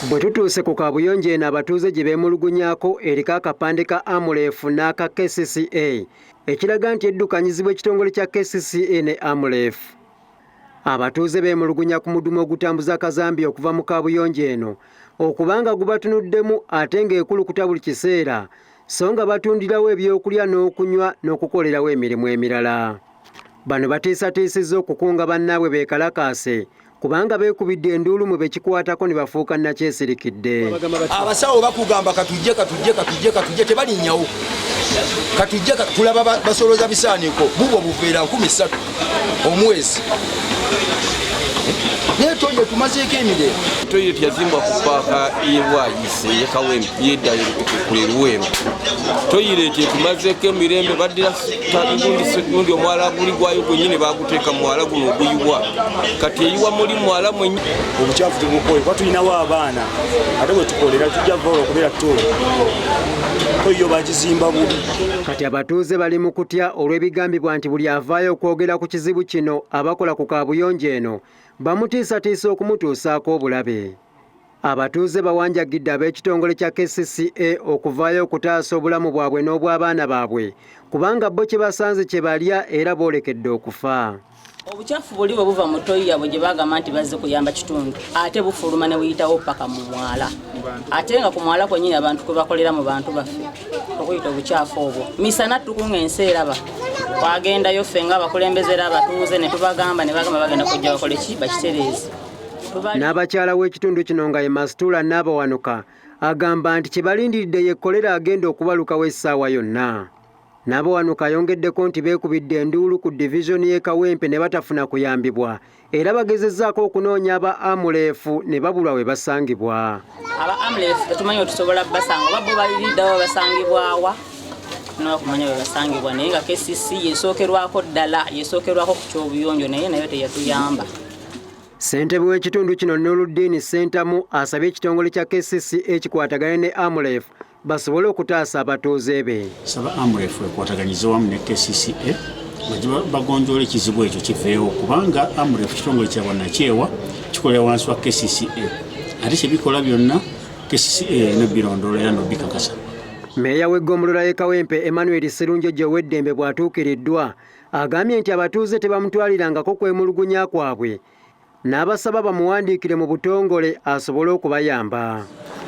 Bwe tutuuse ku kaabuyonjo eno abatuuze gye beemulugunyako eriko akapande ka Amref n'aka KCCA ekiraga nti eddukanyizibwa ekitongole kya KCCA ne Amref. Abatuuze beemulugunya ku mudumu ogutambuza kazambi okuva mu kaabuyonjo eno okuba nga gubatunuddemu ate ng'ekulukuta buli kiseera so nga batundirawo ebyokulya n'okunywa n'okukolerawo emirimu emirala. Bano bateesateesezza okukunga bannaabwe beekalakaase kubanga beekubidde enduulu mu bekikwatako ne bafuuka nakyesirikidde abasawo bakugamba katujje katujje katujje katujje tebalinnyawo katujje tulaba basoloza bisaaniko bubwo buveera nkumi ssatu omwezi naye toyiro tumazeeko emirembe toyiro yazimbwa ku paaka yebwayise yekawembi yeddayo kuleruweero toyiro ekyo tumazeeko emirembe baddira tagundise gundi omwala guli gwayo gwenyini baguteeka muwala guno oguyiwa kati eyiwa muli mwala mwenyi obukyafu tumukoye kuba tulinawo abaana ate bwetukolera tujja vaola okubeera to toyo bagizimba bubi kati abatuuze bali mu kutya olw'ebigambibwa nti buli avaayo okwogera ku kizibu kino abakola ku kaabuyonjo eno bamutiisatiisa okumutuusaako obulabe Abatuuze bawanjagidde ab'ekitongole kya KCCA okuvaayo okutaasa obulamu bwabwe n'obw'abaana baabwe kubanga bo kye basanze kye balya era boolekedde okufa. Obucaafu buli bwe buva mu toyi yabwe gye bagamba nti bazze kuyamba kitundu ate bufuluma ne buyitawo paka mu mwala ate nga ku mwala kwennyini abantu kwe bakolera mu bantu baffe okuyita obucaafu obwo misana tukunga ensi eraba twagendayo ffe nga abakulembeze era abatuuze ne tubagamba ne bagamba bagenda kujja bakole ki bakitereeze n'abakyala w'ekitundu kino nga ye masituula n'abawanuka agamba nti kye balindiridde ye kkolera agenda okubalukawo essaawa yonna n'abawanuka ayongeddeko nti beekubidde enduulu ku divizoni y'e kawempe ne batafuna kuyambibwa era bagezezzaako okunoonya aba amuleefu ne babulwa we basangibwa aba amuleefu tetumanyi otusobola basanga oba bo baliridawo basangibwawa nokumanya webasangibwa naye nga kcc yesookerwako ddala yesookerwako ku kyobuyonjo naye nayo teyatuyamba Ssentebe w'ekitundu kino Nuruddiini Ssentamu asabye ekitongole kya KCC ekikwatagane ne AMREF basobole okutaasa abatuuze be. Saba AMREF ekwataganyize wamu ne KCCA bagonjoola ekizibu ekyo kiveewo kubanga AMREF kitongole kya bannakyewa kikolera wansi wa KCCA ate kyebikola byonna KCCA erina birondoola era nobikakasa. Meeya w'eggombolola y'e Kawempe Emmanuel Sserunjoji ow'eddembe bw'atuukiriddwa Agambye nti abatuuze tebamutwalirangako kwemulugunya kwabwe n'abasaba bamuwandiikire mu butongole asobole okubayamba.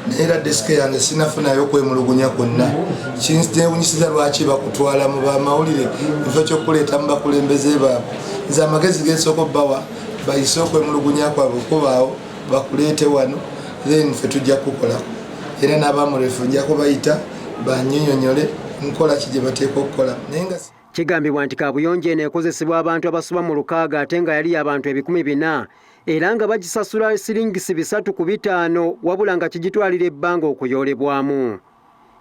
naye era desike yange sinafunayo kwemulugunya kwonna kinewunyisiza lwaki bakutwala mu bamawulire ekifo kyokuleeta mu bakulembeze baabwe nze amagezi gesooka obbawa bayise okwemulugunya kwabwe okubaawo bakuleete wano then fe tujja kukukolako era n'abamurefu nja kubayita banyonyonyole nkola ki gye bateekwa okukola naye nga Kigambibwa nti kaabuyonjo eno ekozesebwa abantu abasoba mu lukaaga ate nga yali y'abantu ebikumi bina era nga bagisasula siringisi bisatu ku bitaano wabula nga kigitwalira ebbanga okuyoolebwamu.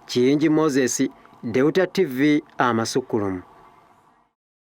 Kiyingi Moses, Deuta TV, Amasukkulumu.